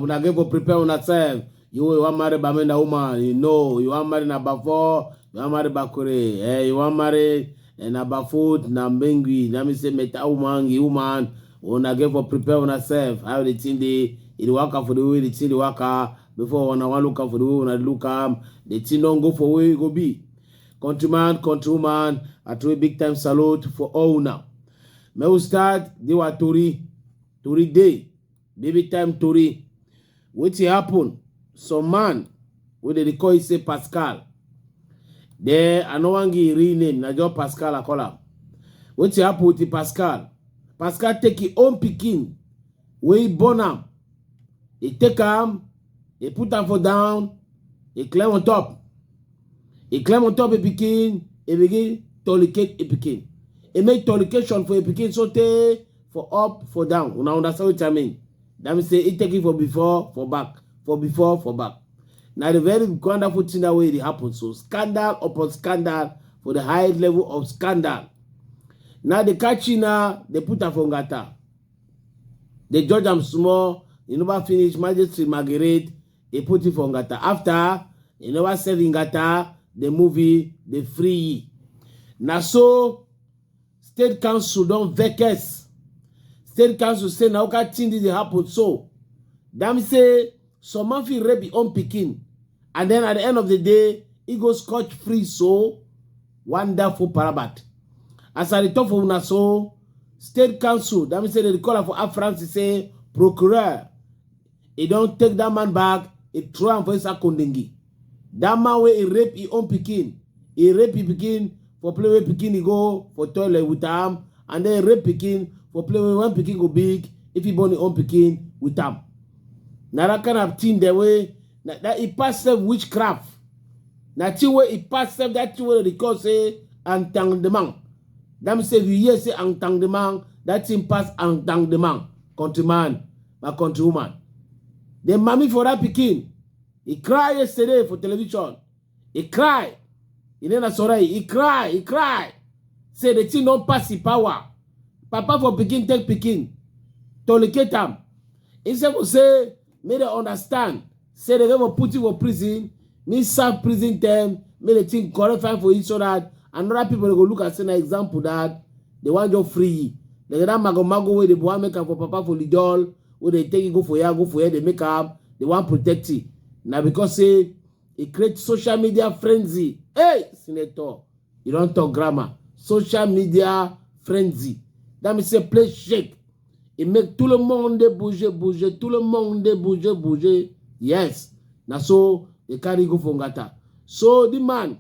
una get go prepare una self you you wan marry bamenda woman you know you wan marry na bafo you wan marry bakure eh you wan marry eh, na bafut na mbengui na me say meta woman gi woman una get for prepare una self how the thing dey e dey waka for the way the thing dey waka before una wan look am for the way una look am the thing don go for where e go be countryman countrywoman i throw a big time salute for all una make we start the wa tori tori dey baby time tori wetin happen some man wey dem dey call e say pascal then i no wan give im real name na just pascal i call am wetin happen with the pascal pascal take im own pikin wey he born am, he take am, he put am for down, he climb on top. He climb on top a pikin, he begin tolicate a pikin. He make tolication for a pikin so tey for up, for down. Una understand wetin I mean? That means say he take it for before, for back, for before, for back. Na the very wonderful thing that way dey happen. So scandal upon scandal for the high level of scandal. Now the catchy now they put am for ngata. They judge am small, e never finish, magistrate Margaret, e put him for Ngata. After, e never serve Ngata, the movie, the free. Na so, state council don vex. State council say na oka thing dey happen so. Dem say some man fit rape his own pikin and then at the end of the day, he go scotch free so. Wonderful parabat. As I talk for una so, state council, that means say they call am for Air France, he say, procureur, he don take that man back, he throw am for inside Kondingi. That man wey he rape his own pikin, he rape his pikin for play wey pikin he go for toilet with am, and then rape pikin for play wey when pikin go big, if he born his own pikin with am. Na that kind of thing dem wey na that e pass sef witchcraft na thing wey e pass sef that thing wey dem dey call say entanglement that mean say if you hear say entanglement that thing pass entanglement countryman my countrywoman the mami for that pikin he cry yesterday for television he cry he name na sorai he cry he cry say the thing don pass him power papa for pikin take pikin tolicate am instead of say make dem understand say dem go put you for prison me serve prison term make the thing correct fine for you so that another people go look and say na example that they wan just free you like that mago mago wey dey wan make am for papa for lidol wey dey take you go for here go for here dey make am dey wan protect you na because say e create social media frenzy hey senator You don talk grammar. Social media frenzy. That means say play shake. It make tout le monde bouger, bouger, tout le monde bouger, bouger. Yes. Na so they carry go for Ngata. So the man,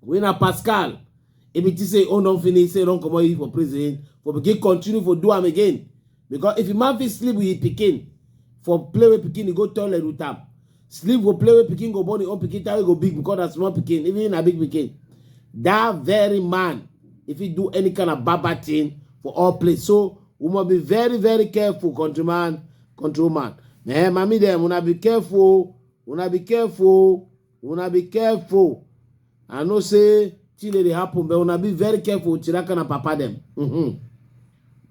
when a Pascal, if it is say, oh, don't finish, say, don't come out for prison, for begin continue for do am again. because if a man fit sleep with his pikin for play with pikin he go toilet with am sleep go play with pikin go born him own pikin time go big because na small pikin even na big pikin that very man if he do any kind of baba thing for all place so we must be very very careful countryman countrywoman eh mami dem una be careful una be careful una be careful i know say thing dey happen but una be very careful with tiraka na papa dem. Mm -hmm.